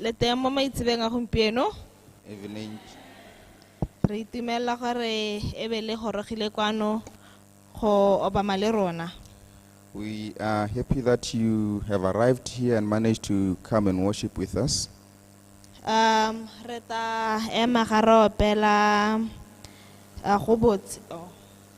le teng mo maitsebeng a gompieno evening. re itumelela gore e be le gorogile kwano go obama le rona We are happy that you have arrived here and managed to come and worship with us. um re ta ema ga re opela ah, go botse oh.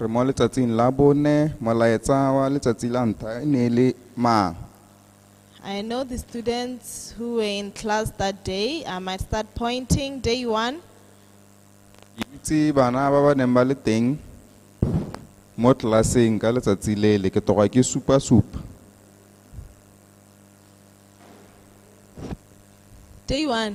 Re mo letsatsing la bone, molaetsa wa letsatsi la ntlha e ne e le mang? I know the students who were in class that day. I might start pointing. Day one, Ke itse bana ba ba neng ba le teng mo tlelaseng ka letsatsi lele ke toga ke supa-supa. day one,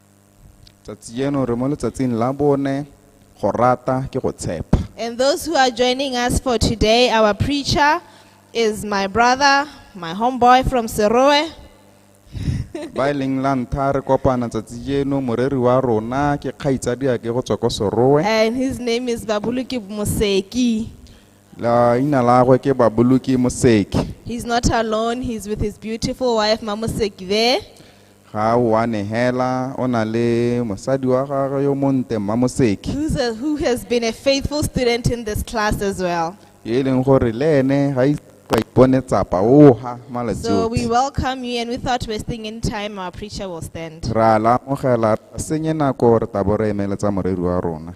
tsatsi jeno re mo letsatsing la bone go rata ke go tshepa And those who are joining us for today, our preacher is my brother, my homeboy from Seroe. ba e leng la ntlha re kopana tsatsi jeno moreri wa rona ke kgaitsadiake go tswa ko soroe And his name is Babuluki Museki. Leina la gagwe ke Baboloki Moseki. He's not alone, he's with his beautiful wife, Mamoseki there. Ga o a negela, o na le mosadi wa gagwe yo monte Mma Moseki. Who's a, who has been a faithful student in this class as well. Yo e leng gore le ene ga ise a ipone tsapa o ga malatsi So we otlhe. welcome you, and without wasting any time, our preacher will stand. Ra la amogela, ra senye nako re tabo re emeletsa moreri wa rona.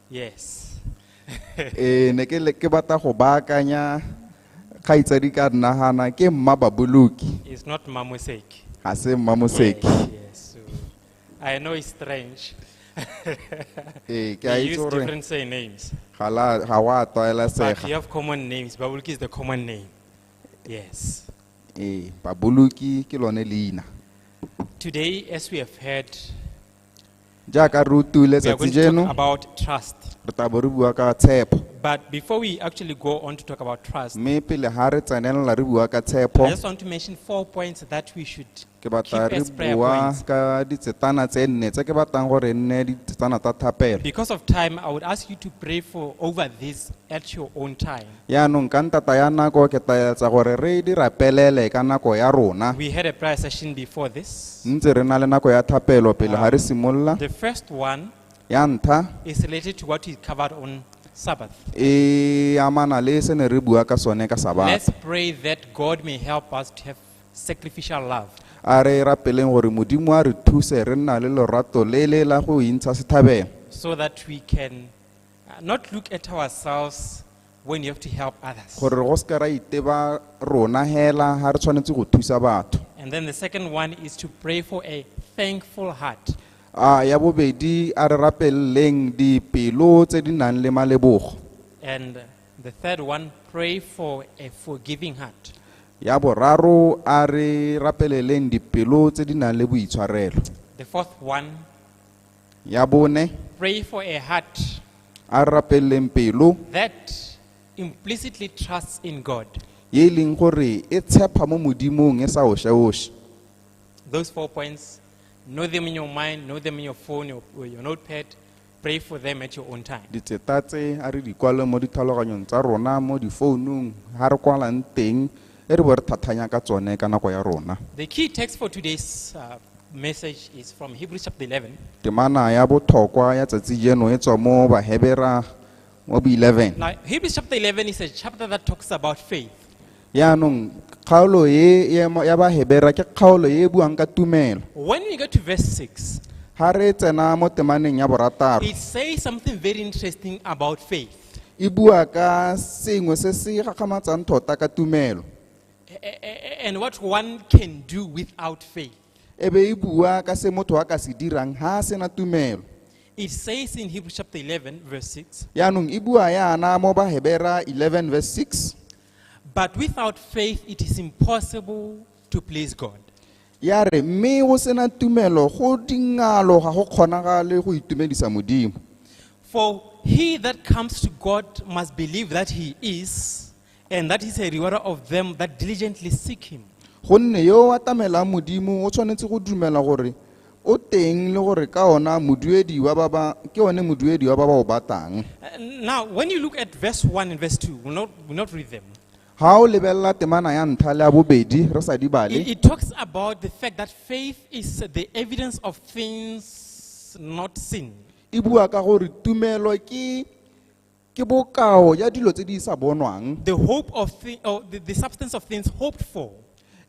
Yes. eh ne ke le- ke batla go baakanya kgaitsadi ka nnagana ke mma baboloki It's not Mamoseki. ga se mma moseki Yes, yes. So, I know it's strange. ee ke a we itse use gore different surnames, ga la- ga wa but we tlwaelesega have common names. Babuluki is the common name. Yes. ee baboloki ke lone leina Today, as we have heard, jaaka re utile we are letsatsi going to jeno talk about trust. re tla bo re bua ka tshepo But before we actually go on to talk about trust, mme pele ga re tsenelela re bua ka tshepo I just want to mention four points that we should ke keep batla re as prayer bua points. ka ditsetana tse nne tse ke batlang gore e nne ditsetana tsa thapelo Because of time, I would ask you to pray for over this at your own time. Yaanong ka ntata ya nako ke tla etsa gore re di rapelele ka nako ya rona. We had a prayer session before this. Ntse re na le nako ya thapelo pele ga re simolola. The first one Ya ntlha is related to what we covered on Sabbath. e amana le se ne re bua ka sone ka Let's Sabata. pray that God may help us to have sacrificial love. A re rapeleng gore Modimo a re thuse re nna le lorato le le la go intsha sethabelo so that we can Uh, not look at ourselves when you have to help others. gore re go se ka ra iteba rona hela ga re tshwanetse go thusa batho And then the second one is to pray for a thankful heart. a ya bobedi a re rapeleleng dipelo tse di nang le malebogo And uh, the third one, pray for a forgiving heart. ya boraro a re rapeleleng dipelo tse di nang le boitshwarelo The fourth one, Ya bone, pray for a heart a rapeleng pelo that implicitly trusts in God. ye e leng gore e tshepa mo modimong e sa oše-oše Those four points, know them in your mind, know them in your phone your, or your notepad. Pray for them at your own time. ditseta tse a re di kwale mo ditlhaloganyong tsa rona mo difounung ga re kwalang teng e re bo re thathanya ka tsone ka nako ya rona The key text for today's uh, message is from Hebrews chapter 11, temana ya botlhokwa ya tsatsi jeno e tswa mo bahebera mo bo 11 Now, Hebrews chapter 11 is a chapter that talks about faith. yaanong kgaolo e ya mo- ya bahebera ke kgaolo e e buang ka tumelo When we get to verse 6, ga re tsena mo temaneng ya borataro it says something very interesting about faith. e bua ka sengwe se se gakgamatsang tota ka tumelo a- a- a- and what one can do without faith. e be e bua ka se motho a ka se dirang ha a sena tumelo It says in Hebrews chapter 11, verse 6 yaanong e bua yana mo bahebera 11 verse 6 But without faith, it is impossible to please God. ya re mme o sena tumelo go dingalo ga go kgonagale go itumedisa modimo For he that comes to God must believe that he is, and that he's a rewarder of them that diligently seek him. gonne yo o atamelang modimo o tshwanetse go dumela gore o teng le gore ka ona moduedi wa ba ba ke one moduedi wa ba ba o batang Uh, Now, when you look at verse 1 and verse 2, we'll not, we'll not read them. Ha o lebelela temana ya ntlha le ya bobedi re sa di bale, It, it talks about the fact that faith is the evidence of things not seen. e bua ka gore tumelo ke ke bokao ya dilo tse di sa bonwang The hope of thi- or the, the substance of things hoped for.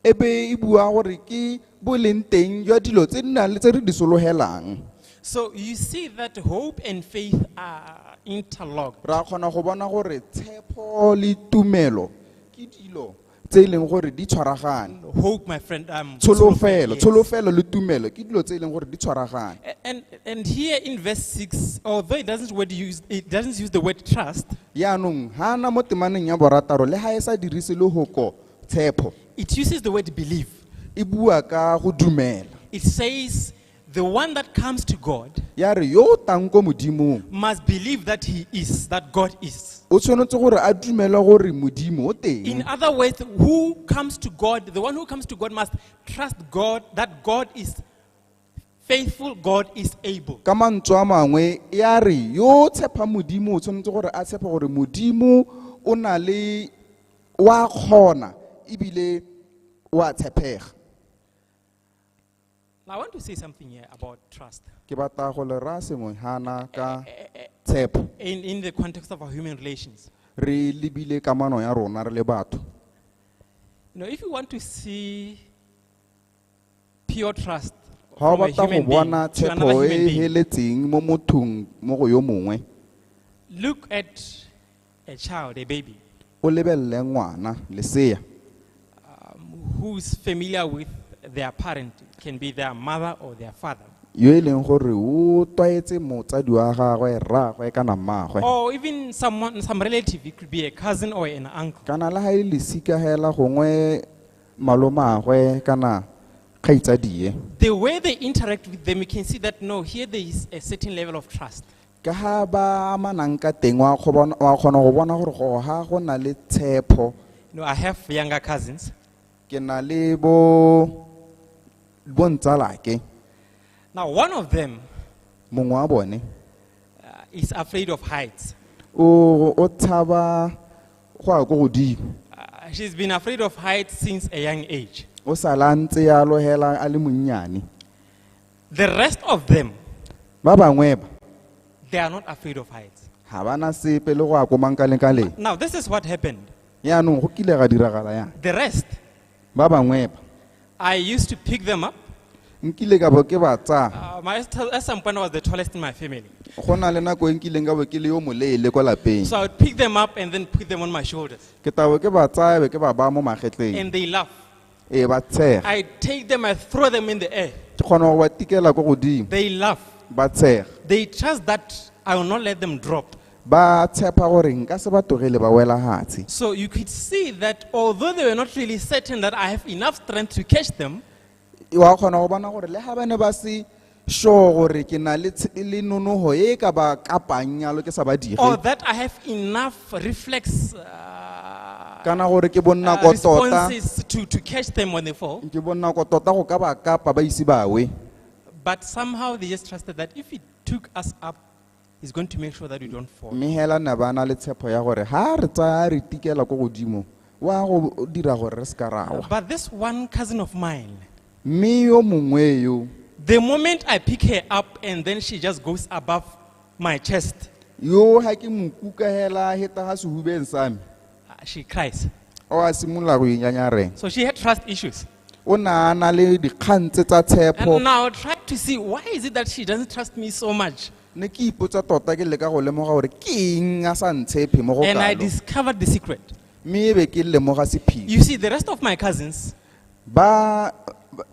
e be e bua gore ke bo leng teng jwa dilo tse di nang le tse re di sologelang So you see that hope and faith are interlocked. ra kgona go bona gore tshepo le tumelo ke dilo tse e leng gore di tshwaragane Hope, my friend, um, tsholofelo yes. tsholofelo le tumelo ke dilo tse e leng gore di tshwaragane A- And, and here in verse 6, although it doesn't, word use, it doesn't use the word trust, yaanong ga ana mo temaneng ya borataro le ga e sa dirise lehoko tshepo It uses the word believe. e bua ka go dumela It says, the one that comes to God ya re yo o tang ko modimong must believe that he is, that God is. o tshwanetse gore a dumele gore modimo o In teng other words, who comes to God, the one who comes to God must trust God that God is faithful God is able. ka mantswe a mangwe e a re yo o tshepang modimo o tshwanetse gore a tshepe gore modimo o na le o a kgona ebile o a tshepega Now, I want to say something here about trust ke batla go le raya sengwe gana ka tshepo in, in the context of our human relations. re lebile kamano ya rona re le batho You know, if you want to see pure trust ga o batla go bona tshepo e e heletseng mo mothong mo go yo mongwe look at a child a baby o lebelele ngwana lesea um, who is familiar with their parent can be their mother or their father yo e leng gore o tlwaetse motsadi wa gagwe rraagwe kana mmaagwe or even someone some relative it could be a cousin or an uncle kana le ga e lesikagela gongwe malomagwe kana kgaitsadie The way they interact with them, you can see that no, here there is a certain level of trust. ka ga ba amanang ka teng wa go bona- wa kgona go bona gore go ga go na le tshepho You know, I have younger cousins. ke na le bo bontsalake Now, one of them mongwe wa bone uh, is afraid of heights. o o tshaba go ya ko godimo Uh, she's been afraid of heights since a young age. o sala a ntse ya logela a le monnyane The rest of them, ba bangwe ba they are not afraid of heights. ga ba na sepe le go ya ko mankaleng Now, this is what happened. yaanong go kile ga diragala yang The rest, ba bangwe ba I used to pick them up. nkile ka bo ke ba tsaya Uh, my, at some point, I was the tallest in my family. go na le nako e nkileng ka bo ke le yo moleele kwa lapeng So I would pick them up and then put them on my shoulders. ke tabo ke ba tsaya be ke ba baya mo magetleng And they laugh. ee ba tshega I take them, I throw them in the air. ke kgona go ba tikela ko godimo They laugh. ba tshega They trust that I will not let them drop. Ba tshepa gore nka se ba togele ba wela hatsi. So you could see that although they were not really certain that I have enough strength to catch them, Wa kgona go bona gore le ha ba ne ba se sure gore ke na le tsh- le nonoho e e ka ba kapang yalo ke sa ba dire. or that I have enough reflex uh, Kana gore ke bonna uh, ko tota. responses to, to catch them when they fall. Ke bonna ko tota go ka ba kapa ba ise ba we. But somehow they just trusted that if it took us up He's going to make sure that you don't fall. mme hela ne ba na le tshepo ya gore ha re tsaya re tikela ko godimo wa go dira gore re se ka ra wa But this one cousin of mine, mme yo mongwe yo the moment I pick her up and then she just goes above my chest, yo ga ke mo kuka hela heta ga sehubeng sa me Uh, she cries. o a simolola go inyanyareng So she had trust issues. o ne a na le dikgang tse tsa tshepo And now try to see why is it that she doesn't trust me so much? ne ke ipotsa tota ke leka go lemoga gore ke eng a sa ntshephe mo go And I kalo discovered the secret. mme e be ke lemoga sephiri You see, the rest of my cousins, ba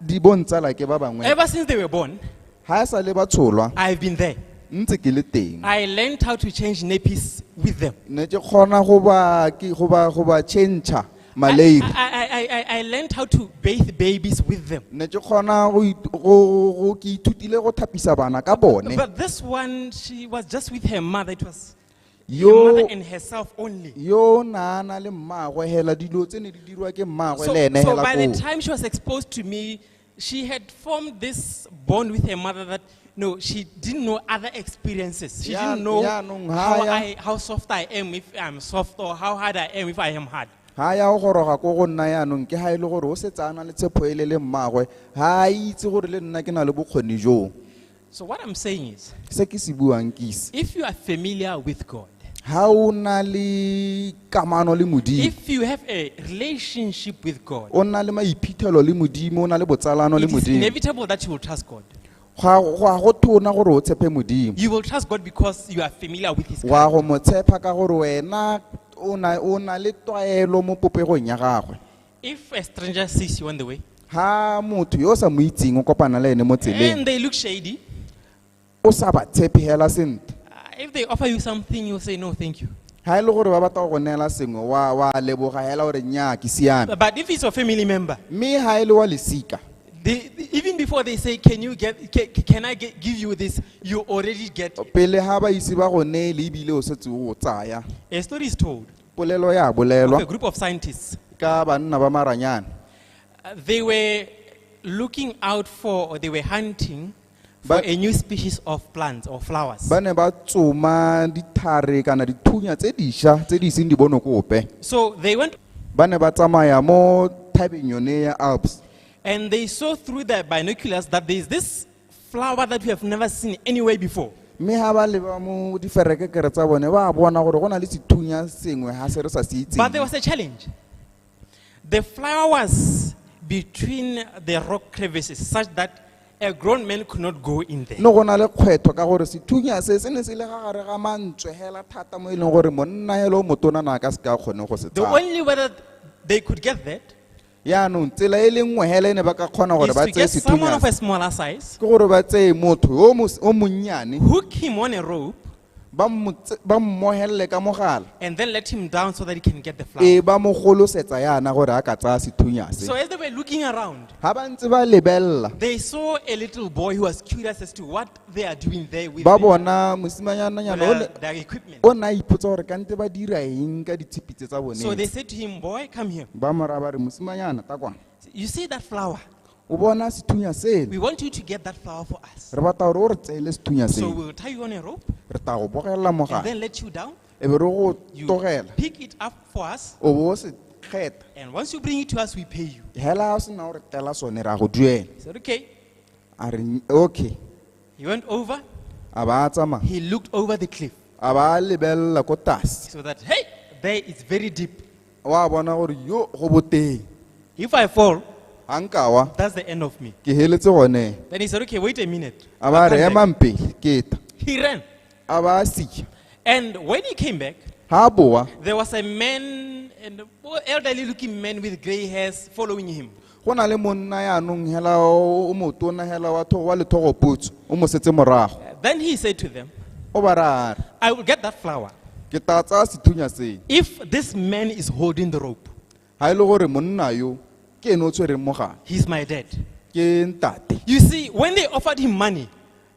di bontsala ke ba bangwe Ever since they were born, ha e sa le ba tsholwa I've been there. ntse ke le teng I learned how to change nappies with them. ne ke kgona go ba ke- go ba go ba change-a maleipi I, I, I, I, I learned how to bathe babies with them. ne ke kgona go it- go- go- ke ithutile go thapisa bana ka bone But this one, she was just with her mother. It was yo mother and herself only. yo naana le mmaagwe hela dilo tse ne di dirwa ke mmaagwe So, le ene so hela by the koo time she was exposed to me, she had formed this bond with her mother that no, she didn't know other experiences. She Ya- didn't know yaanong ha how, ya- I, how soft I am if I'm soft or how hard I am if I am hard. ga ya go goroga ko go nna yaanong ke ga e le gore o setse a na le tshepho e le le mmaagwe ga a itse gore le nna ke na le bokgoni joo So what I'm saying is, se ke se buang ke se if you are familiar with God, ha o na le kamano le modimo if you have a relationship with God, o na le maiphitlhelo le modimo o na le botsalano le it is modimo inevitable that you will trust God. ga ga go tona gore o tshepe modimo You will trust God because you are familiar with His wa character. go mo tshepa ka gore wena o na- o na le tlwaelo mo popegong ya gagwe If a stranger sees you on the way ha motho yo o sa mo itseng o kopana le ene mo tseleng and they look shady, o sa ba tshepegela sentle uh, if they offer you something, you say, no, thank you. ha e le gore ba batla go go neela sengwe wa wa leboga hela gore nnyaa ke siame But if it's your family member, mme ha e le wa lesika they, they- even before they say, can you get, can, can I get, give you this, you already get it. pele ha ba ise ba go neele ebile o setse o tsaya A story is told. Polelo ya bolelwa of a group of scientists. ka banna ba maranyane. Uh, They were looking out for, or they were hunting for But- a new species of plants or flowers. Ba ne ba tsoma dithare kana dithunya tse disha tse di iseng di bono kope. So they went Ba ne ba tsamaya mo thabeng yone ya Alps. and they saw through their binoculars that there is this flower that we have never seen anywhere before. mme ga ba leba mo diferekekere tsa bone ba bona gore go na le sethunya sengwe ga se re sa se But there itseng was a challenge. The flower was between the rock crevices such that a grown man could not go in there. ne go na le kgwetho ka gore sethunya se se ne se le ga gare ga mantswe hela thata mo e leng gore monna hela o motona na a ka se ka kgone go se The tsaya only way that they could get that yaanong tsela e le nngwe hela e ne ba ka kgona gore is ba to tseye get someone of sethunyana a smaller size, ke gore ba tseye motho yo mos- o monnyane hook him on a rope, ba mo tse- ba mmohelele ka mogala and then let him down so that he can get the flower. e ba mo golosetsa yana gore a ka tsaya sethunya se So as they were looking around, ga ba ntse ba lebelela they saw a little boy who was curious as to what they are doing there with ba them. bona mosimanyana nyana o Their, ne- their equipment. o ne a ipotsa gore kante ba dira eng ka ditshipitse tsa So bone they said to him, Boy, come here. ba mora ba re mosimanyana ta kwana You see that flower? o bona sethunya sele We want you to get that flower for us. re batla gore o re tseele sethunya So sele we'll tie you on a rope re tla go bogelela and mogare then let you down. e be re go You togela pick it up for us. o bo o se kgetha And once you bring it to us, we pay you. hela ga o sena gore tela sone ra go duela He said, Okay. a re "Nny- okay He went over, a ba a tsamaya he looked over the cliff a ba a lebelela ko tlase so that, hey, there it's very deep. wa bona gore yo go boteng If I fall, ga nkawa that's the end of me. ke heletse gone Then he said, okay, wait a minute. a ba I'll re come back." emang pele keta He ran. a ba a sija And when he came back, ga a boa there was a man, an elderly looking man with gray hairs following him. go na le monna yaanong hela o motona hela wa thogo wa lethogopotso o mo setse morago Then he said to them, o ba ra re I will get that flower ke tla tsaya sethunya se if this man is holding the rope. ga e le gore monna yo ke ene o tshwereng mogala He's my dad. ke ntate You see, when they offered him money,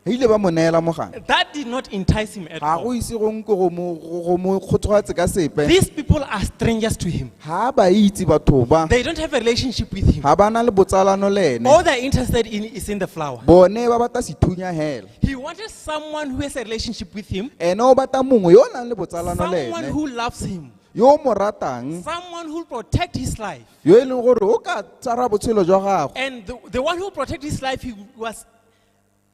ba ile ba mo neela mogala That did not entice him at ga go all. ise go nko go mo- go go mo kgothogatse ka sepe These people are strangers to him. ga ba itse batho ba They don't have a relationship with him. ga ba na le botsalano le ene All they're interested in is in the flower. bone ba batla sethunya hela He wanted someone who has a relationship with him, ene o batla mongwe yo o nang le botsalano le someone ene who loves him, yo o mo ratang someone who will protect his life. yo e leng gore o ka tsara botshelo jwa gago And the, the one who protected his life, he was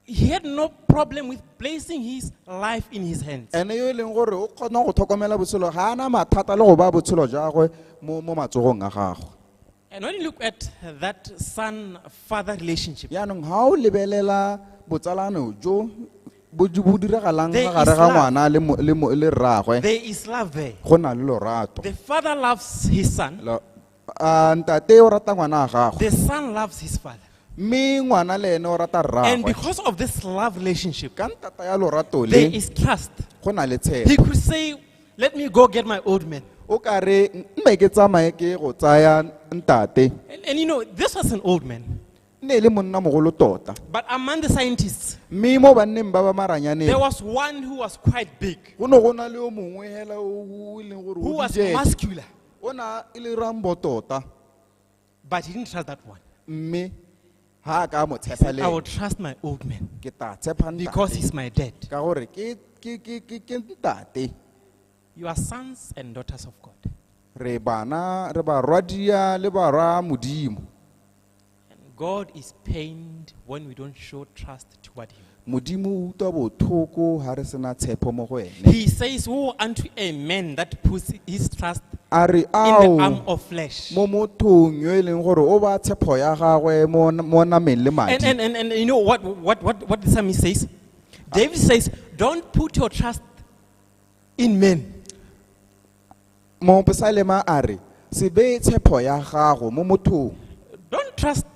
he had no problem with placing his life in his hands. ene yo e leng gore o kgona go tlhokomela botshelo ga ana mathata le go ba botshelo jagwe mo mo matsogong a gagwe And when you look at that son father relationship, yaanong ga o lebelela botsalano jo bo jo bo diragalang There ga gare is ga love. ngwana le mo- le mo- le rraagwe there is love there. go na le lorato The father loves his son, Lo- a ntate o rata ngwana wa gagwe The son loves his father. mme ngwana le ene o rata And rraagwe because of this love relationship, ka ntata ya lorato there le is trust. go na le He tshepo could say, Let me go get my old man. o ka re mme ke tsamaye ke go tsaya ntate And, and you know, this was an old man. ne e le monna mogolo tota But among the scientists, mme mo banneng ba ba maranyaneng there was one who was quite big, go ne go na le yo mongwe hela o o e leng gore who o was dijele. muscular. o ne a le rambo tota but he didn't trust that one. mme ha a ka a mo tshepa I will le trust my old man ke tla tshepa ntate. because he's my dad. ka gore ke ke ke ke ke ntate You are sons and daughters of God. re bana re barwadia le barwa modimo And God is pained when we don't show trust toward Him. modimo o utlwa bothoko ga re sena tshepo mo go ene He says, Woe unto a man that puts his trust a re in the arm ao of flesh. mo mothong yo e leng gore o ba tshepho ya gagwe mo mo nameng le And, madi and, and, and you know what, what, what, what the psalmist says? David says, Don't put your trust in men. mopesalema a re se beye tshepo ya gago mo mothong Don't trust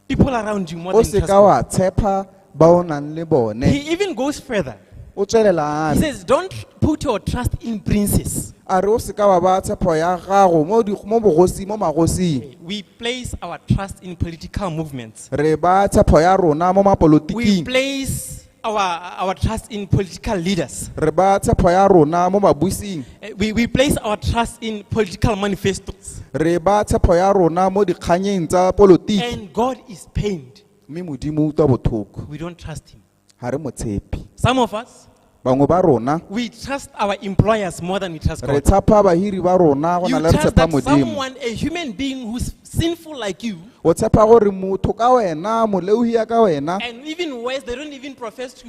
people around you more o than you se trust ka God. wa tshepa ba o nang le bone He even goes further. o tswelela a He re says, Don't put your trust in princes. a re o se ka wa ba tshepo ya gago mo di- mo bogosi mo magosing We place our trust in political movements. re ba tshepo ya rona mo We mapolotiking place our, our trust in political leaders. re baya tshepho ya rona mo babusing Eh, We, we place our trust in political manifestos. re baya tshepho ya rona mo dikganyeng tsa polotiki And God is pained. mme modimo o utlwa botlhoko We don't trust Him. ga re mo tshepe Some of us, bangwe ba rona we trust our employers more than we trust re God. tshapa bahiri ba rona go You na le re trust tshepa that modimo someone, a human being who's sinful like you. o tshepa gore motho ka wena moleohi ya ka wena And even worse, they don't even profess to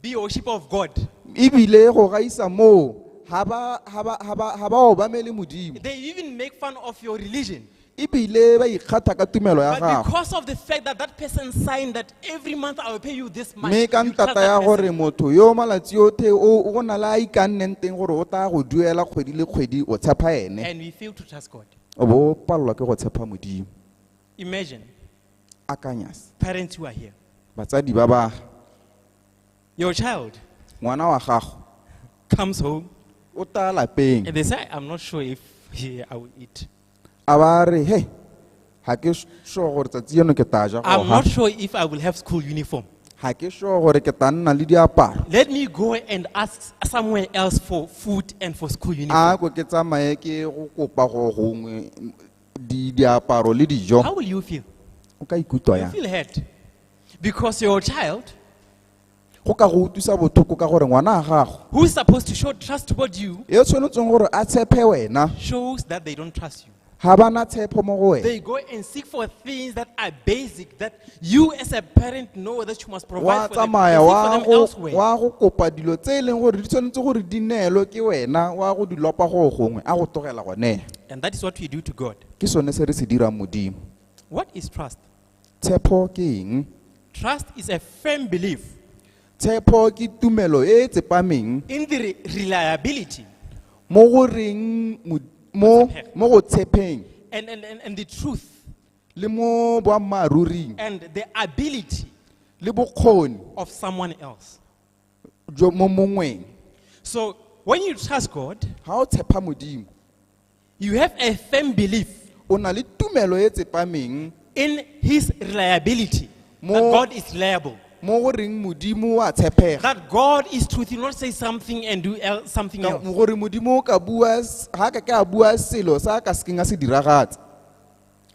be worship of God. ebile go gaisa moo ga ba- ga ba- ga ba ga ba obamele modimo They even make fun of your religion. ebile ba ikgatha ka tumelo ya But gago because of the fact that that person signed that every month I will pay you this much. mme ka you trust ntata that ya person. gore motho yo malatsi othe o o go na le a ikanneng teng gore o tla go duela kgwedi le kgwedi o tshepa ene And we fail to trust God. o bo o palelwa ke go tshepa modimo Imagine akanyas parents who are here. batsadi ba ba Your child ngwana wa gago comes home o tla lapeng and they say, I'm not sure if yeah, I will eat. a ba re he ga ke s- sure gore tsatsi eno ke tla ja I'm goga not sure if I will have school uniform. ga ke sure gore ke tla nna le diaparo Let me go and ask somewhere else for food and for school uniform. a ko ke tsamaye ke go kopa go gongwe mm, di- diaparo le dijo How will you feel? o ka ikutlwa You yang feel hurt because your child, go ka go utlwisa bothoko ka gore ngwana wa gago who is supposed to show trust toward you, e tshwanetseng gore a tshepe wena shows that they don't trust you. ga ba na tshepo mo go wena They go and seek for things that are basic that you as a parent know that you must wa provide for them. You tsamaya seek for wa them go elsewhere. wa go kopa dilo tse e leng gore di tshwanetse gore di neelwe ke wena wa go di lopa go gongwe a go togela gone And that is what we do to God. ke sone se re se dirang modimo What is trust? Tshepo ke eng? Trust is a firm belief Tshepo ke tumelo e e tsepameng in the re- reliability mo go reng mo- mo mo go tshepeng and, and, and, and the truth le mo boammaaruring and the ability le bokgoni of someone else. jo mo mongweng. So when you trust God, Ga o tshepa Modimo, You have a firm belief o na le tumelo e tsepameng in his reliability. That Mo- God is reliable. mo go reng modimo wa tshepega That God is truth. He will not say something and do el- something Ka- else. gore modimo o ka bua s- ga ka ke a bua selo sa a ka sekeng a se diragatsa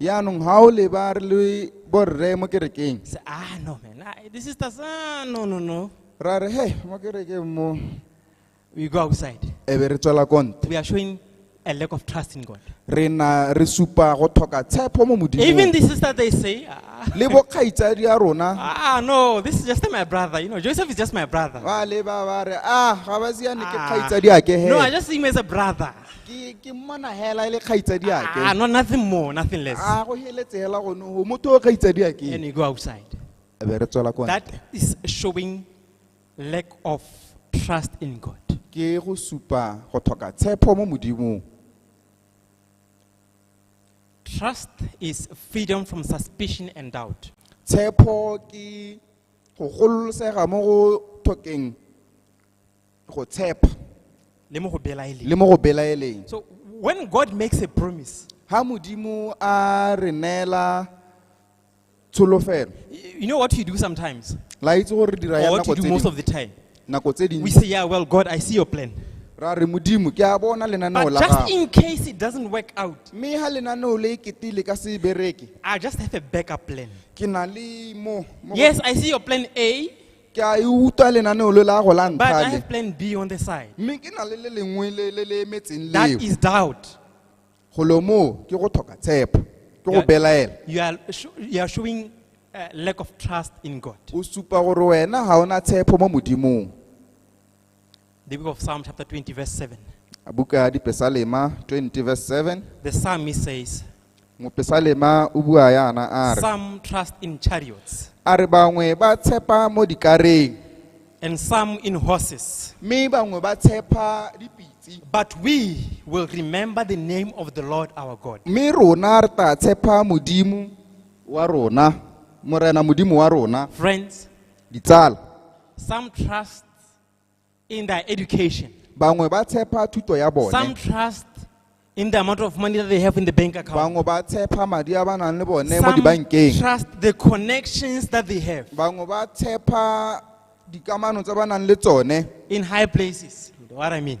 yaanong ga o leba re le borre mo kerekeng Say, ah, no, man. Ah, the sisters, ah, no, no, no. ra re he mo kerekeng mo We go outside. e be re tswela konte We are showing a lack of trust in God. re na re supa go tlhoka tshepo mo Even modimong the sister, they say, ah, le bokgaitsadi ya rona ah, no, this is just my brother. You know, Joseph is just my brother. ba leba ba re a ga ba siane ke Ah, kgaitsadi a ke no, I he just see him as a brother. ke ke mmona hela e le kgaitsadi ake Ah, no, nothing more, nothing less. a go heletse hela gone o motho o kgaitsadi And ake you go outside. be re tswela ko ntle. That is showing lack of trust in God. ke go supa go tlhoka tshepo mo modimong Trust is freedom from suspicion and doubt. tshepo ke go gololosega mo go tlhokeng go tshepa le mo go belaeleng le mo go belaeleng so when god makes a promise ha modimo a re neela tsholofelo y- you know what you do sometimes la itse gore re dira ya or what nako you do tse most dingwe- of the time nako tse we dingwe say yeah well god i see your plan ra re modimo ke a bona lenaneo but la just gago in case it doesn't work out mme ha lenaneo le ekete le ka se e bereke i just have a backup plan ke na le mo mo- yes i see your plan a ke a e utlwa lenaneo le la go la But I ntlhale have plan B on the side. mme ke na le le lengwe le le le emetseng That leo is doubt. golo moo ke go tlhoka tshepo ke go Yeah. belaela You are, sho- you are showing uh, lack of trust in God. o supa gore wena ga ona tshepo mo modimong The book of Psalm, chapter 20, verse 7. buka ya dipesalema 20 verse 7 The psalmist says, mopesalema o bua yana a re Some trust in chariots, a re bangwe ba tshepa mo dikareng and some in horses. mme bangwe ba tshepa dipitse But we will remember the name of the Lord our God. mme rona re tla tshepa modimo wa rona morena modimo wa rona Friends, ditsala some trust in their education. bangwe ba tshepa thuto ya bone Some trust in the amount of money that they have in the bank account. bangwe ba tshepa madi a ba nang le bone mo Some dibankeng trust the connections that they have bangwe ba tshepa dikamano tse ba nang le tsone in high places. You know what I mean?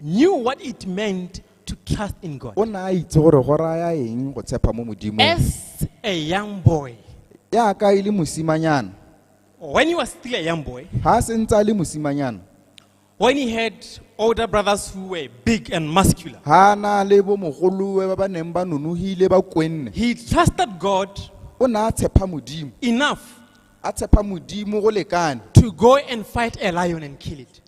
knew what it meant to trust in God. o ne a itse gore go raya eng go tshepa mo modimong As a young boy, jaaka e le mosimanyana when he was still a young boy, ga a sentse a le mosimanyana when he had older brothers who were big and muscular, ga a na le bomogolowe ba ba neng ba nonogile ba kwenne he trusted God o ne a tshepa modimo enough a tshepa modimo go lekane to go and fight a lion and kill it.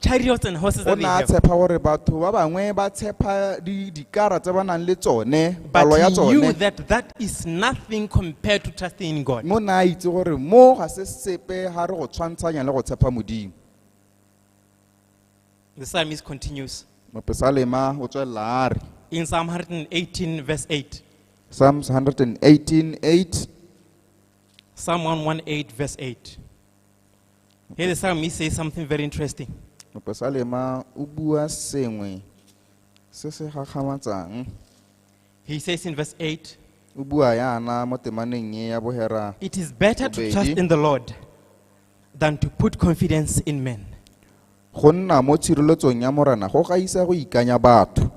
chariots and horses o that they ne a have. tshepa gore batho ba bangwe ba tshepa di- dikara tse ba nang le tsone But palo ya he knew tsone that that is nothing compared to trusting in God. mo ne a itse gore mo ga se sepe ga re go tshwantshanya le go tshepa modimo The psalmist continues mopesalema o tswelela a re in Psalm 118, verse 8. psalms 118 8 Psalm 118, verse 8. Here the psalmist says something very interesting. mopesalema o bua sengwe se se gakgamatsang He says in verse 8, o bua yana mo temaneng e ya bohera It is better to Obedi. trust in the Lord than to put confidence in men. go nna mo tshireletsong ya morena go gaisa go ikanya batho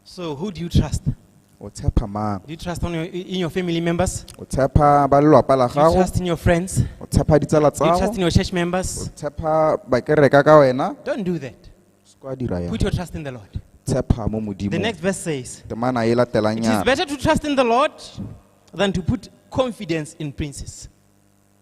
So who do you trust? Do o tshepa mang you trust on your, in your family members? Do o tshepa ba lelwapa la you gago trust in your friends? Do o tshepa ditsala you trust tsago in your church o members? tshepa bakereka ka wena Don't do that. se kwa dira yang Put your trust in the Lord. tshepa mo The modimong next verse says, temana e latelang It is yana better to trust in the Lord than to put confidence in princes.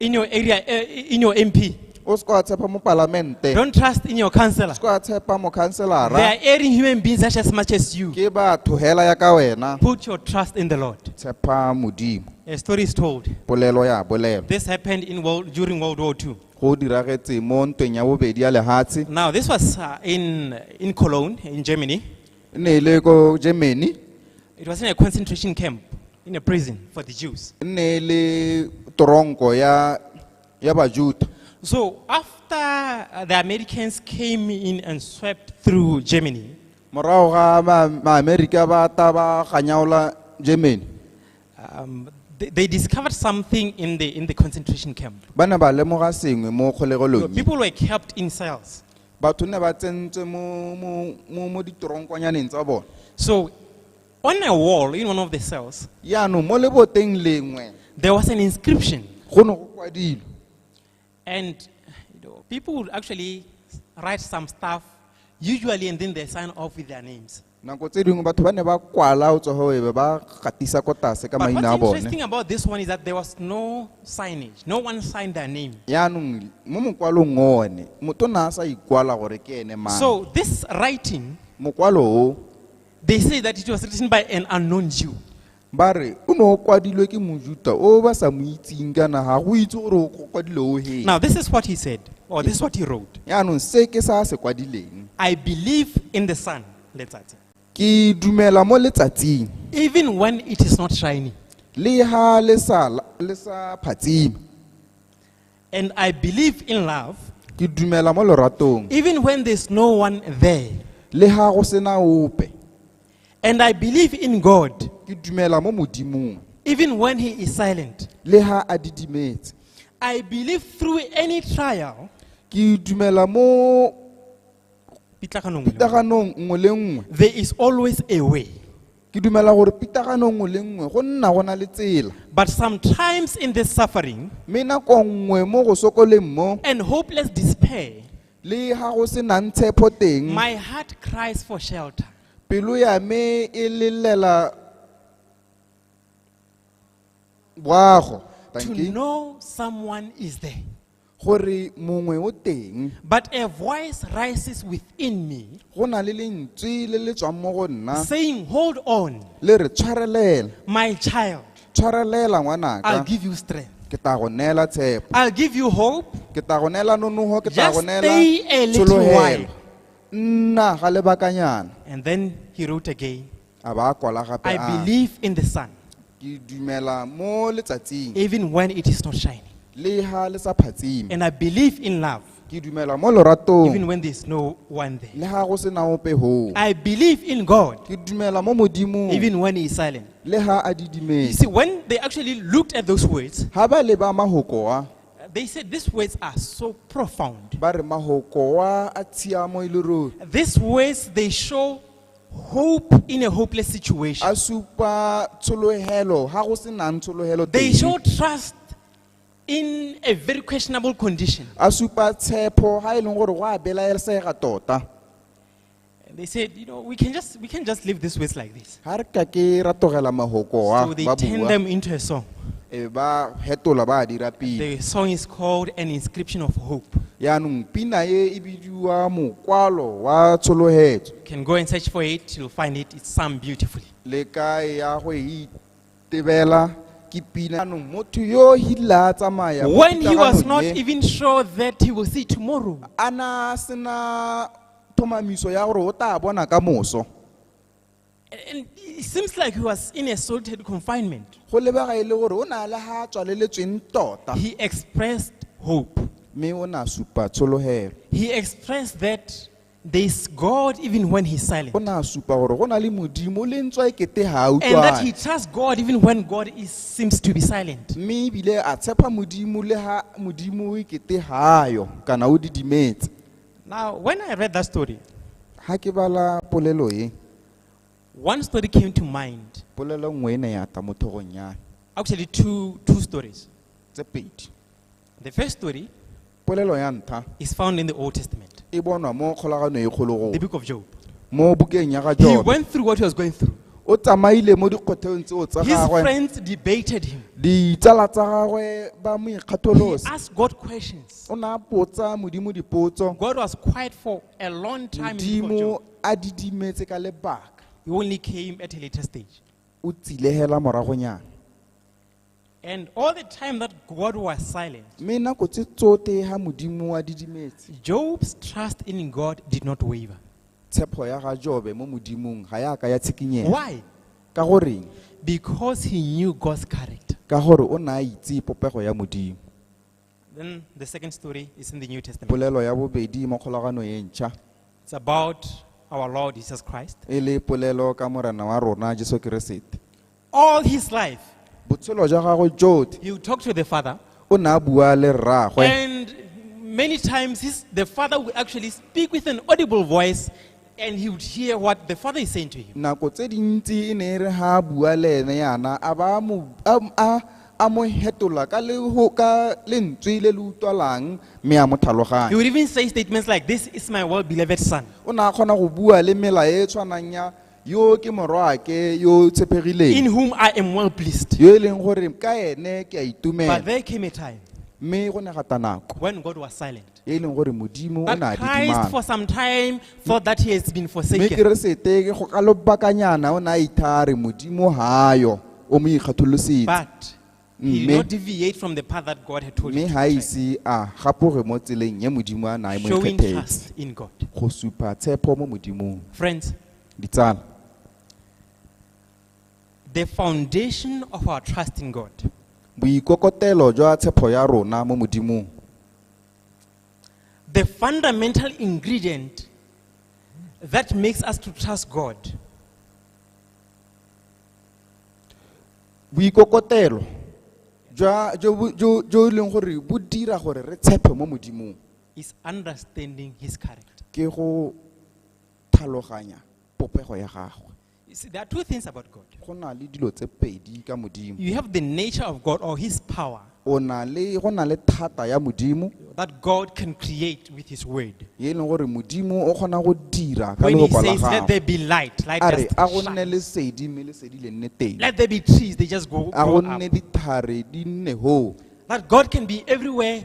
in your area, uh, in your MP. o se ka wa tshepa mo palamente Don't trust in your o councillor. se ka wa tshepa mo They khanselara are erring human beings just as much as you. ke batho hela ya ka wena Put your trust in the Lord. tshepa modimo A story is told. polelo ya bolelo This happened in world, during World War II. go diragetse mo ntweng ya bobedi ya lehatshe Now, this was uh, in, in Cologne, in Germany. E ne e le ko Germany. It was in a concentration camp, in a prison for the Jews. E ne e le toronko ya ya Bajuda. So after uh, the Americans came in and swept through Germany, Morago ga ma- ma-America ba ta ba ganyaola Germany. um, they, they discovered something in the, in the concentration camp. Ba ne ba lemoga sengwe mo You know, kgolegelong. e. people were kept in cells. batho ne ba tsentswe mo mo mo mo ditoronkonyaneng tsa bone So, on a wall in one of the cells, yaanong mo leboteng lengwe there was an inscription, go ne go kwadilwe and you know, people would actually write some stuff, usually, and then they sign off with their names. nako tse dingwe batho ba ne ba kwala o tsogo ebe ba gatisa ko tlase ka maina a bone yaanong mo mokwalong one motho na a sa ikwala gore ke ene mang so this writing mokwalo o they say that it was written by an unknown jew ba re o ne o kwadilwe ke mojuta o ba sa mo itseng kana ga go itse gore o kwadile o heng Now, this is what he said, or this is what he wrote yaanong se ke sa se kwadileng I believe in the sun, letsatsi, ke dumela mo letsatsing even when it is not shining. le ha le sa la- le sa phatsime And I believe in love ke dumela mo loratong even when there's no one there. le ga go sena ope And I believe in God ke dumela mo modimong even when He is silent. le ga a didimetse I believe through any trial, ke dumela mo Pitaganong e le nngwe. pitaganong nngwe le nngwe There is always a way. ke dumela gore pitagano nngwe le nngwe go nna go na le tsela But sometimes in this suffering mme nako nngwe mo go sokoleng mo and hopeless despair, le ga go se nang tshepo teng my heart cries for shelter. pelo ya me e lelela boago To Thank you. know someone is there. gore mongwe o teng But a voice rises within me go na le lentswe le le tswang mo go nna saying, Hold on, le re tshwarelela my child, tshwarelela I'll ngwanaka give you strength. ke tla go neela tshepo I'll give you hope. ke tla go neela nonogo ke tla Just go neela stay a little tshologelo while. nna ga lebakanyana And then he wrote again, a ba a kwala gape I a believe in the sun, ke dumela mo letsatsing even when it is not shining. le ha le sa phatsime And I believe in love, ke dumela mo even loratong when there's no one there. le ha go se na ope hoo I believe in God, ke dumela mo modimong even when He is silent. le ha a You didimetse see, when they actually looked at those words, ha ba leba mahokoa they said these words are so profound. ba re mahokoa a tshiamo e le ruri These words, they show hope in a hopeless situation. a supa tsholohelo ga go se nang tsholohelo They teng show trust in a very questionable condition. a supa tshepo ga e leng gore go a belaesega tota And they said, you know, we can just we can just leave this waste like this. ga re ka ke ra togela mahoko wa So they ba turn bua them into a song. e ba hetola ba a dira pina The song is called An Inscription of Hope. yaanong pina e e bidiwa mokwalo wa tshologetso can go and search for it, you'll find it. It's sung beautifully. le ka ya go e itebela ke pina anong motho yo o hila a tsamaya mo When he was pitaganong not e, even sure that he will see tomorrow, a na a sena thomamiso ya gore o tla bona ka moso and it seems like he was in a solitary confinement, go lebega e le gore o na le ga a tswaleletsweng tota he expressed hope. mme o na supa tshologelo He expressed that There is God even when He's silent. o ne a supa gore go na le modimo le ntswa e kete ga a And that he utlwane trusts God even when God is, seems to be silent. mme ebile a tshepa modimo le ga modimo e kete ga yo kana o didimetse Now, when I read that story, ga ke bala polelo e one story came to mind. polelo nngwe e ne ya tla mo thogong ya me. Actually, two, two stories. tse pedi The first story polelo ya ntlha is found in the Old Testament, e bonwa mo kgolagano e kgologolo the book of Job. mo bukeng ya ga He jobe went through what he was going through. o tsamaile mo dikgotheong tseo tsa His gagwe friends debated him. ditsala tsa gagwe ba mo He ikgatholose asked God questions. o ne a potsa modimo dipotso God was quiet for a long time. In the book of modimo Job. a didimetse ka lebaka He only came at a later stage. o tsilehela moragonyana And all the time that God was silent, mme nako tse tsote ga modimo wa didimetse Job's trust in God did not waver. tshepo ya ga jobe mo modimong ga ya ka ya tshikinyega Why? ka goreng Because he knew God's character. ka gore o ne a itse popego ya modimo Then the second story is in the New Testament. polelo ya bobedi mo kgolagano e ntšha It's about our Lord Jesus Christ. e le polelo ka morena wa rona jesu keresete All his life, botshelo jwa gagwe jotlhe he would talk to the Father, o ne a bua le rraagwe and many times his, the Father would actually speak with an audible voice And he would hear what the father is saying to him. nako tse dintsi e ne e re ga a bua le ene yana a ba a mo- a- a- a mo hetola ka le ho- ka lentswe le le utlwalang mme a mo He tlhaloganya would even say statements like, This is my well beloved son. o ne a kgona go bua le mela e e tshwanang ya yo ke morwaake yo o in tshepegileng whom I am well pleased. yo e leng gore ka ene ke a But itumela there came a time mme go ne gata nako when God was silent. e leng gore modimo o But ne a Christ, for didimala some time, thought that he has been mme forsaken. keresete ke go ka lobakanyana o ne a ithare modimo gayo o mo ikgatholosetse But he did Mme- not deviate from the path that God had told mme him. ga to tread, ise a gapoge mo tseleng ye modimo a nae mo Showing ikgethetse trust in God. go supa tshepo mo modimong Friends, ditsala the foundation of our trust in God boikokotelo jwa tshepo ya rona mo modimong The fundamental ingredient that makes us to trust God boikokotelo jwa jo bo- jo jo e leng gore bo dira gore re tshepe mo modimong is understanding His character. ke go tlhaloganya popego ya gagwe You see, there are two things about God. go na le dilo tse pedi ka modimo You have the nature of God or His power o na le go na le thata ya modimo that God can create with His word. ye e leng gore modimo o kgona go dira ka When He lehoko la says, "Let there gagwe be light," light a re just a go nne shines. le sedi mme le sedi le nne teng Let there be trees; they just go, a go go up. nne dithare di nne hoo That God can be everywhere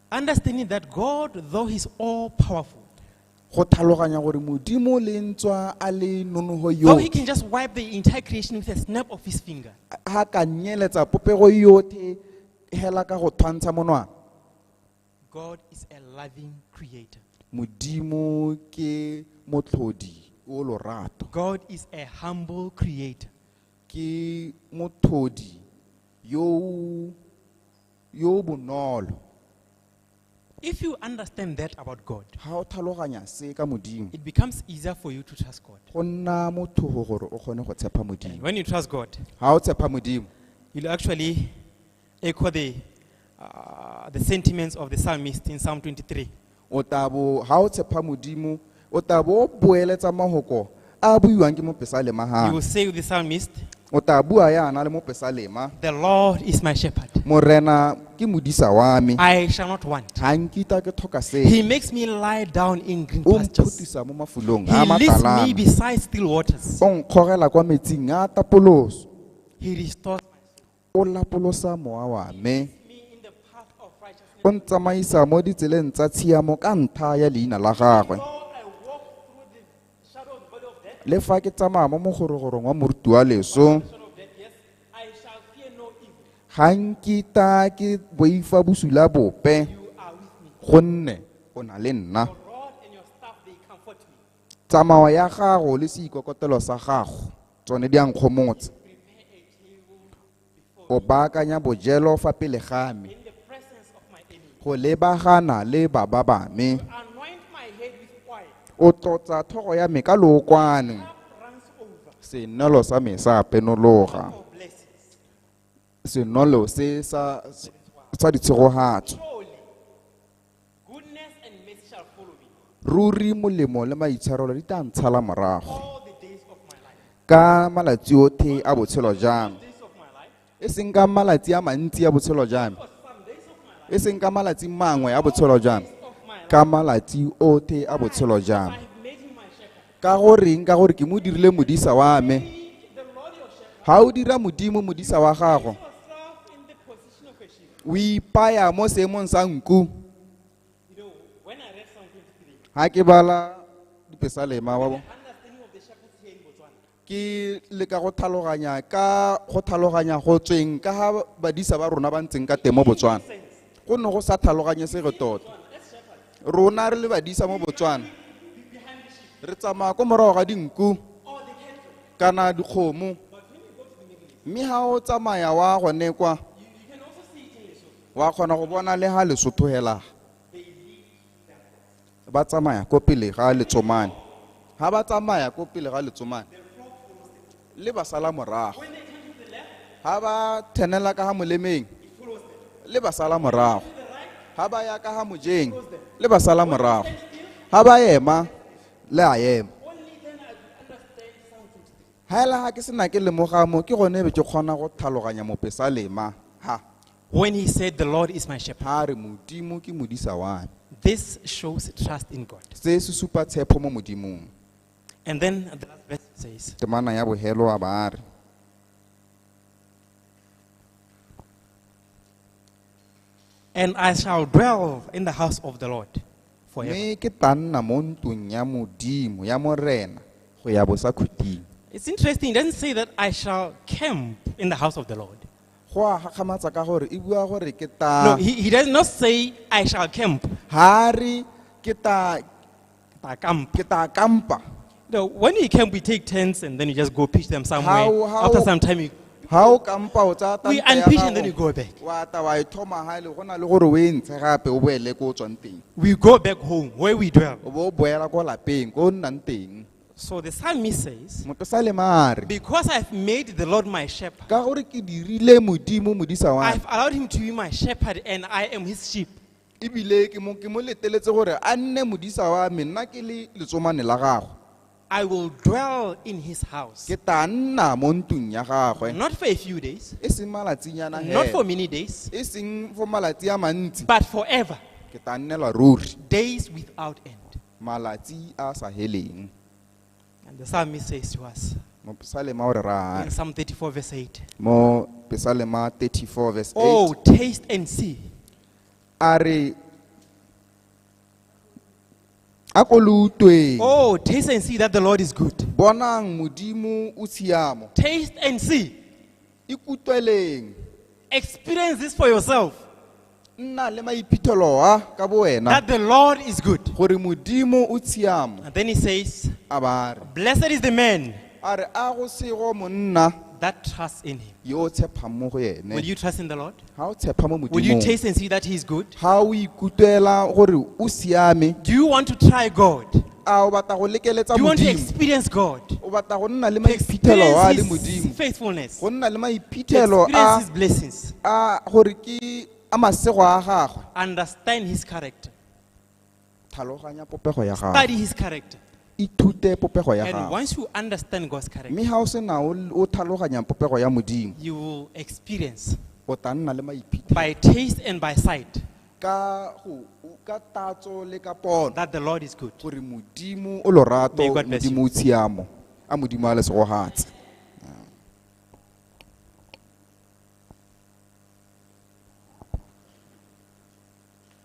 Understanding that God, though He's all powerful, go tlhaloganya gore modimo le ntswa a le nonogo though He yotlhe can just wipe the entire creation with a snap of His finger, ga ka nyeletsa popego yotlhe hela ka go tshwantsha monwana God is a loving creator. modimo ke motlhodi o lorato God is a humble creator. ke motlhodi yo o yo o bonolo If you understand that about God, ga o tlhaloganya se ka modimo it becomes easier for you to trust God. go nna mothogo gore o kgone go tshepa And modimo when you trust God, ga o tshepa modimo you'll actually echo the, uh, the sentiments of the psalmist in Psalm 23. O tla bo ha o tshepa Modimo, o tla bo o boeletsa mahoko a a buiwang ke mopesalema You will hana. say with the psalmist, O tla bua yana le mopesalema, The Lord is my shepherd. Morena ke modisa wa me, I shall not want. ga nkitla ke tlhoka He sepe. makes me lie down in green O pastures. mphutisa mo mafolong a He leads me matalana, beside still waters. o nkgogela kwa metsing a tapoloso. He restores O lapolosa mowa wa me. O ntsamaisa mo ditseleng tsa tshiamo ka ntlha ya leina la gagwe. Le fa ke tsamaya mo mogorogorong wa moruti wa leso, ga nkita ke boifa bosula bope gonne o na le nna. Tsamao ya gago le seikokotelo sa gago tsone di a nkgomotsa o baakanya bojelo fa pele ga me go lebagana le baba ba me o tlotsa thogo ya me ka lookwane senolo sa me sa penologa senolo se sa ditshegogatso ruri molemo le maitshwarelo di tla ntshala morago ka malatsi otlhe a botshelo jang e seng ka malatsi a mantsi a botshelo jang e seng ka malatsi mangwe a botshelo jang ka malatsi otlhe a botshelo jang ka goreng ka gore ke mo dirile modisa wa me ga o dira modimo modisa wa gago o ipaya mo seemong sa nku ga ke bala dipesalema wa bo ke leka go tlhaloganya ka go tlhaloganya go tsweng ka ga badisa ba rona ba ntseng ka teng mo botswana go ne go sa tlhaloganye se re tota rona re le badisa mo botswana re tsamaya ko morago ga dinku kana dikgomo Mme ha o tsamaya wa gone kwa, wa kgona go bona le ga Lesotho hela. Ba tsamaya ko pele ga letsomane. Ha ba tsamaya ko pele ga letsomane, le ba sala morago. Ha ba thenela ka ga molemeng, le ba sala morago. Ha ba ya ka ga mojeng, le ba sala morago. Ha ba ema, le a ema. Hela ha ke sena ke lemoga mo ke gone be ke kgona go tlhaloganya mopesalema. Ha, When he said, The Lord is my shepherd, ha re Modimo ke modisa wa me. this shows trust in God. Se se supa tshepo mo Modimong. And then the last verse says, Temana ya bohelo a ba a re. And I shall dwell in the house of the Lord forever. mme ke tla nna mo ntlong ya modimo ya morena go ya bosakhuting It's interesting, he doesn't say that I shall camp in the house of the Lord. go a gakgamatsa ka gore e bua gore ke No, tla he, he does not say I shall camp. ha re ke tla Ke tla kampa. ke tla kampa No, when you camp, we take tents and then you just go pitch them somewhere. How- how- After some time, you, ha o kampa o tsaya We tanta ya unpitch and gago, then you go back. wa ta wa e thoma ha e le go na le gore o e ntshe gape o boele ko o tswang teng we go back home where we dwell. o bo o boela ko lapeng ko o nnang teng So the psalmist says, moto sa lemare Because I've made the Lord my shepherd, ka gore ke dirile modimo modisa wa I've allowed him to be my shepherd, and I am his sheep. ebile ke mo ke mo leteletse gore a nne modisa wa me nna ke le letsomane la gagwe I will dwell in his house. ke tla nna mo ntlong ya gagwe Not for a few days, e seng malatsinyana not for hela many days, e seng for malatsi a mantsi but forever. ke tla nnelwa ruri Days without end. malatsi a sa heleng And the psalmist says to us mopesalema o re in rang Psalm 34, verse 8, mo pesalema 34 verse 8 Oh, taste and see a re a ko lo utlweng Oh, taste and see that the Lord is good. bonang modimo o tshiamo Taste and see. ikutlweleng Experience this for yourself nna le maiphitlhelo a ka bo wena that the Lord is good. gore modimo o tshiamo And then he says, a ba re Blessed is the man a re a go sego monna that trusts in him. yo o tshepgang mo go Will ene you trust in the Lord? ga o tshepa mo Will you modimong taste and see that He is good? ga o ikutlwela gore o siame Do you want to try God? Do a o batla go lekeletsa you want to modimo experience God? o batla go nna le To maiphithelo a le experience His modimo faithfulness? go nna le To maiphithelo experience a His blessings? a gore ke a masego a gagwe Understand His character. Tlhaloganya popego ya gago. Study his character. Ithute popego ya And gago. once you understand God's character, Mme ha o se na o o tlhaloganya popego ya Modimo, you will experience o tla nna le maiphitlhelo by taste and by sight ka go ka tatso le ka pono that the Lord is good. gore Modimo o lorato, May God bless you. Modimo o tshiamo, a Modimo a le segogatse.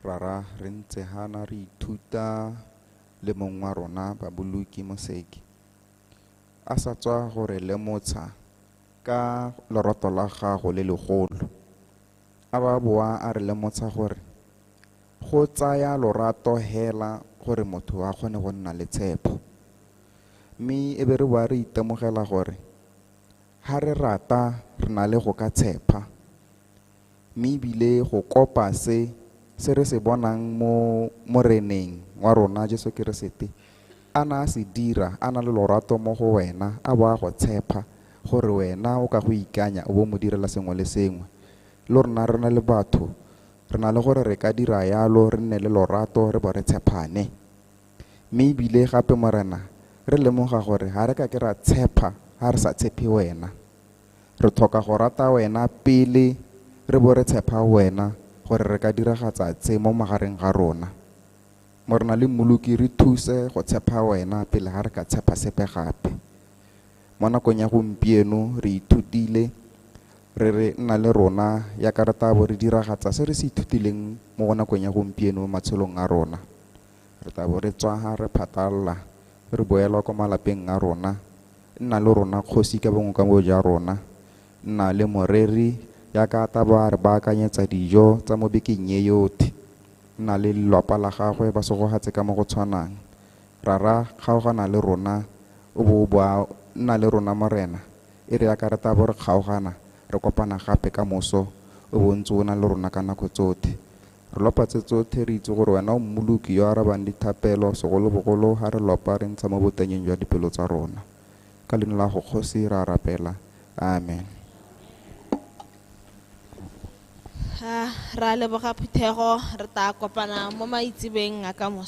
Rara re ntse hana re ithuta le mong wa rona Baboloki Moseki a sa tswa go re lemotsha ka loroto la gago le legolo. A ba boa a re lemotsha gore go tsaya lorato hela gore motho a kgone go nna le tshepo. Mme e be re boa re itemogela gore Ha re rata re na le go ka tshepa, mme ebile go kopa se se re se bonang mo Moreneng wa rona Jesu Keresete a na a se dira a na le lorato mo go wena a bo a go tshepa gore wena o ka go ikanya o bo mo direla sengwe le sengwe. Lo rona re na le batho re na le gore re ka dira yalo re nne le lorato re bo re tshephane. Mme ebile gape Morena, re lemoga gore ga re ka ke ra tshepa ga re sa tshepe wena. Re tlhoka go rata wena pele re bo re tshepa wena gore re ka diragatsa tse mo magareng ga rona. Morena le mmoloki re thuse go tshepa wena pele ga re ka tshepa sepe gape. Mo nakong ya gompieno re ithutile re re nna le rona ya ka re tabo re diragatsa se re se ithutileng mo go nakong ya gompieno mo matshelong a rona. Re tla bo re tswaga re phatalala, re boelwa kwa malapeng a rona. Nna le rona, Kgosi, ka bongwe ka bo ja rona. Nna le moreri ya ka ta ba re baakanyetsa dijo tsa mo bekeng ye yothe. Nna le lelwapa la gagwe ba segogatse ka mo go tshwanang. Rara, kgaogana le rona, o bo o boa nna le rona, Morena, e re yaka re ta bo re kgaogana, re kopana gape ka moso, o bo o ntse o na le rona ka nako tsothe. Re lopa tse tsotlhe re itse gore wena o Mmoloki yo a arabang dithapelo, segolobogolo ha re lopa re ntsha mo botanyeng jwa dipelo tsa rona. Ka leina la gago Kgosi re a rapela. Amen. Ah, ra leboga phuthego re tla kopana mo maitsebeng a ka moso